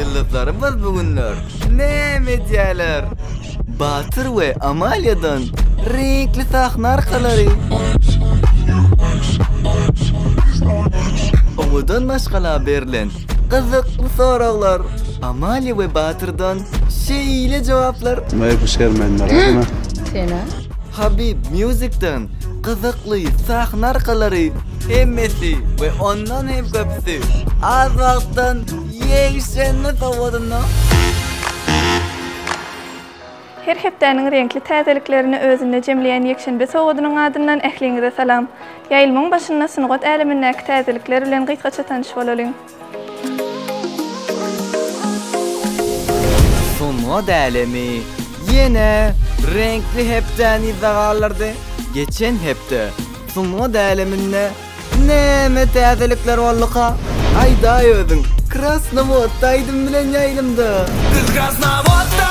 Ýyldyzlarymyz bu günler näme edýärler? Batyr we Amaliýadan reňkli sahna arkalary. Owadan maşgala berlen gyzykly soraglar. Amaliýa we Batyrdan şeýle jogaplar. Sen-a? Habib Music-den gyzykly sahna arkalary hemmesi we ondan hem köpüsi az wagtdan ýegşenbe sowadyna. Her hepdäniň reňkli täzeliklerini özünde jemleýän ýekşenbe sowadynyň adyndan ähliňize salam! Ýaýlymyň başynda sungat älemindäki täzelikler bilen gysgaça tanyş bolalyň. Sungat älemi ýene reňkli hepdäni yza galdyrdy. Geçen hepde sungat äleminde näme täzelikler bolduka? Aýdaý özüň! Krasnowodda aýdym bilen ýaýlymda! Biz Krasnowodda!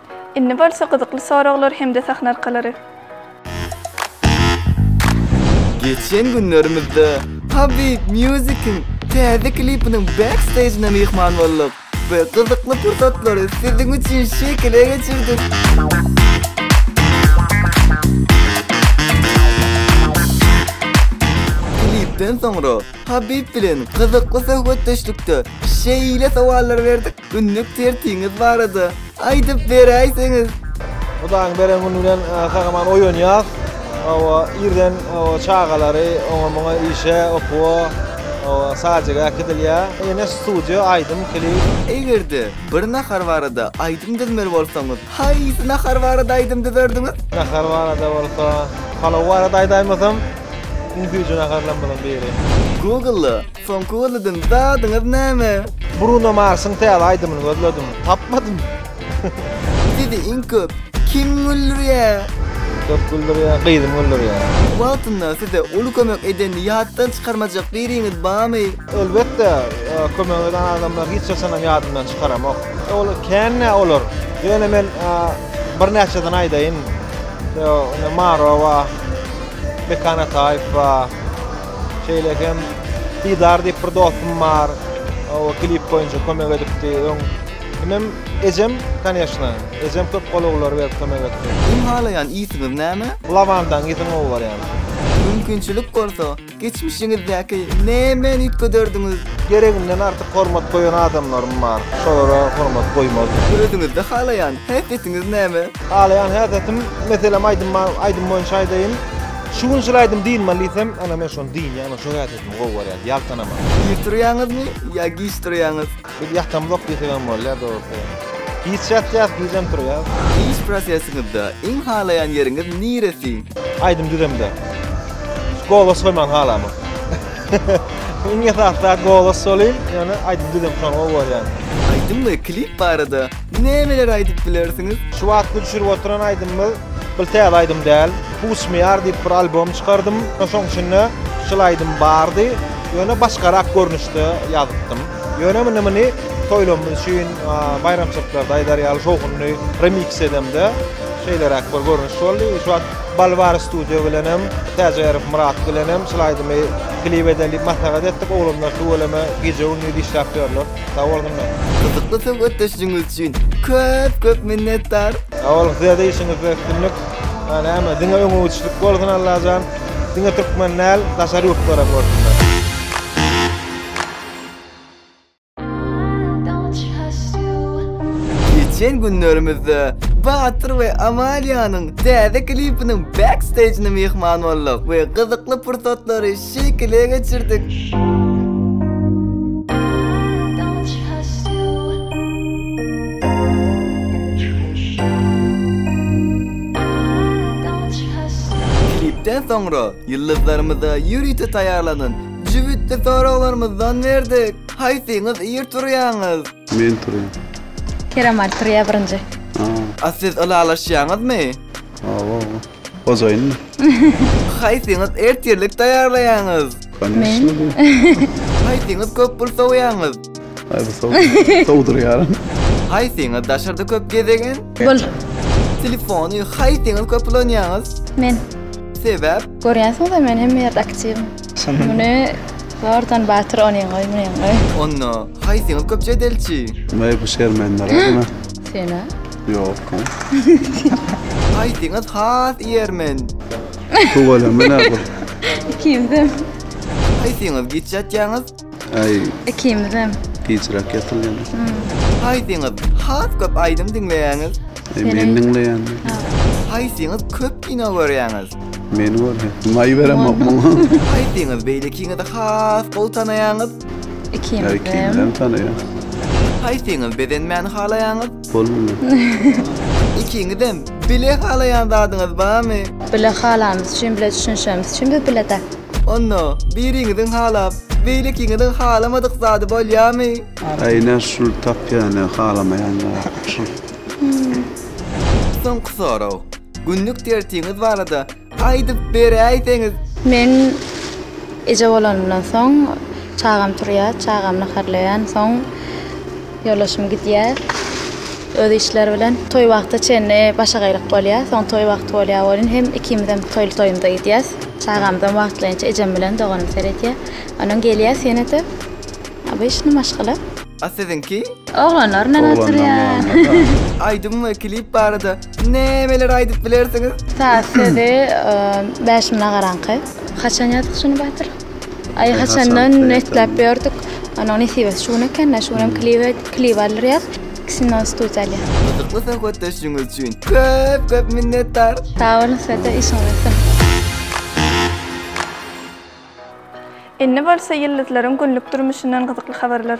Indi bolsa gyzykly soraglar hem-de sahna arkalary. Geçen günlerimizde Habib Music-iň täze klipiniň backstage'ine myhman bolduk we gyzykly pursatlary siziň üçin şekile geçirdik. Klipden soňra Habib bilen gyzykly söhbetdeşlikde şeýle sowallar berdik, Günlük tertiňiz barada aýdyp beräýseňiz? Hudaýyň beren güni bilen gahryman oýanýas. Hawa, irden çagalary oňa-muňa işe, okuwa, hawa, sazyga äkidilýär. Ýene studiýa, aýdym, klip. Eger-de bir nahar barada aýdym düzmeli bolsaňyz, Haýsy nahar barada aýdym düzerdiňiz? Nahar barada bolsa, palaw barada aýdaýmasam, iň süýji naharlarymyzyň biri. Google, soňky gözlediň zadyňyz näme? Bruno Marsyň täze aýdymyny gözledim, tapmadym. Sizi iň köp kim güldürýär? Köp güldürýän gyzym güldürýär. Wagtynda size uly kömek eden ýatdan çykarmajak biriňiz barmy? Elbetde, kömegime gelen adamlary hiç haçanam ýadymdan çykaramok. Ol kän-ä olar. Ýöne men birnäçesini aýdaýyn. Ýa-da Marowa, Mekan Ataýewa, şeýle hem Didar diýip bir dostum bar. O klip boýunça kömek edipdi. Öň kimem? Ejem, kanyýeşna. Ejem köp golawlary berip kömek etdi. Iň halaýan ýitiňiz näme? Lawandaň ýitin gowy barýar. Mümkinçilik bolsa, Geçmişiňizdäki nämeni üýtgederdiňiz? Gereginden artyk hormat goýan adamlarym bar. Şolara hormat goýmazdyk. Özüňizde halaýan häsiýetiňiz näme? Halaýan häsiýetim, meselem, aýdym bar, aýdym boýunça aýdaýyn. Şu gün şul aýdym diýilmeli diýsem, ana, men şony diýýän, şo häsiýetimi gowy görýän, ýaltanaman. Irtiriýäňizmi ýa giç turýaňyz? Biz ýatamzok diýsegem bolýar dogrusy. Giç ýatýas, gijem turýas. Iş prosesiňizde iň halaýan ýeriňiz niresi? Aýdym düzemde. Golos goýman halamok. Iň esasy zat golos bolýyn, ýöne aýdym düzem şony gowy görýän. Aýdym we klip barada nämeler aýdyp bilersiňiz? Şu wagtky düşürip oturan aýdymymyz bil täze aýdym däl. Puç me ýar diýip bir albom çykardym. Şoň içinde şul aýdym bardy, ýöne başgarak görnüşde ýazypdym. Ýöne munda muny toýlarymyz üçin, baýramçylyklarda aýdar ýaly şowhunly remiks edemde, şeýleräk bir görnüş boldy. Şu wagt Balvar studio bilenem, Täjärow Myrat bilenem şul aýdymy klip edeli diýip maslahat etdik. Oglanlar tüweleme gije-gündiz işläp ýörler. Sag bolsunlar! Gyzykly söhbetdeşligiňiz üçin köp köp minnetdar! Sag boluň sizede işiňizde üstünlik näme diňe öňügiçlik bolsun Allajan diňe türkmen däl daşary ýurtlaram görsünler. Geçen günlerimizde Batyr we Amaliýanyň täze klipiniň backstage'ine myhman bolduk we gyzykly pursatlary şekile geçirdik. Klipden soňra ýyldyzlarymyza ýörite taýýarlanan Jübütli soraglarymyzdan berdik. Haýsyňyz ir turýaňyz? Men turýan. Kerem Ali turýa birinji. Aa. A siz ylalaşýaňyzmy? Awa. Hojaýynmy? Haýsyňyz ertirlik taýýarlaýaňyz? Koneşno. Haýsyňyz köp pul sowýaňyz? Aý bu sow. Sowdurýaryn. Haýsyňyz daşarda köp gezegen? Bul. Telefony haýsyňyz köp ulanýaňyz? Men. Sebäp? Görýänsiňiz-de men hemme ýerde aktiwim. Muny zordan batyr onyň goý, munyň goý. Onda haýsyňyz köp jedelçi? Meý bu şermende radyma. Sen-a? Ýok men. Haýsyňyz has ýermen? Tüweleme nädip? Ikimiz hem. Haýsyňyz giç ýatýaňyz? Ay Ikimizem. gijrak yatylyan. Haýsyňyz has köp aýdym diňleýäňiz? E, men diňleyan. Haýsyňyz köp kino görýäňiz? Men var. May veremok muňa. Haýsyňyz beýlekiňizi has gowy tanaýaňyz? Ay Ikimizem. kimden tanıyan. Haýsyňyz bezenmäni halaýaňyz? Bolmuyor. Ikiňizem bile halaýan zadyňyz barmy? Bile halamyz üçin, bile düşünişemiz üçin biz bile-de. Onda, biriňiziň halap, beýlekiňiziň halamadyk zady bolýamy? Aý, ine şul tapýany halamaýan zat, şul. Soňky sorag. Günlük dersiňiz barada aýdyp beräýseňiz? Men eje bolanymdan soň, çagam turýar, çagam naharlaýan soň, Ýoldaşym gidýär öz işleri bilen. Toý wagty çenli başagaýlyk bolýar. Soň toý wagty bolýar welin hem ikimizem toýly-toýumyza gidýäs. Çagamyzam wagtlaýynça ejem bilen doganym seredýär. Onuň gelýär senede obyçny maşgala. A siziňki? Oglanlar bilen oturýar. Aýdym we klip barada nämeler aýdyp bilersiňiz? Saz, sözi Bäşim Nagaraňky. Haçan ýazdyk şuny Batyr? Aý haçandan isläp ýördük. Onuň nesibesi şu gün eken-de, şu günem klibe klip aldyrýas. Ikisini de studiýa alýas. Gyzykly söhbetdeşligiňiz üçin köp köp minnetdar. Sag boluň size-de işiňiz üstün. Indi bolsa ýyldyzlaryň günlük durmuşyndan gyzykly habarlar.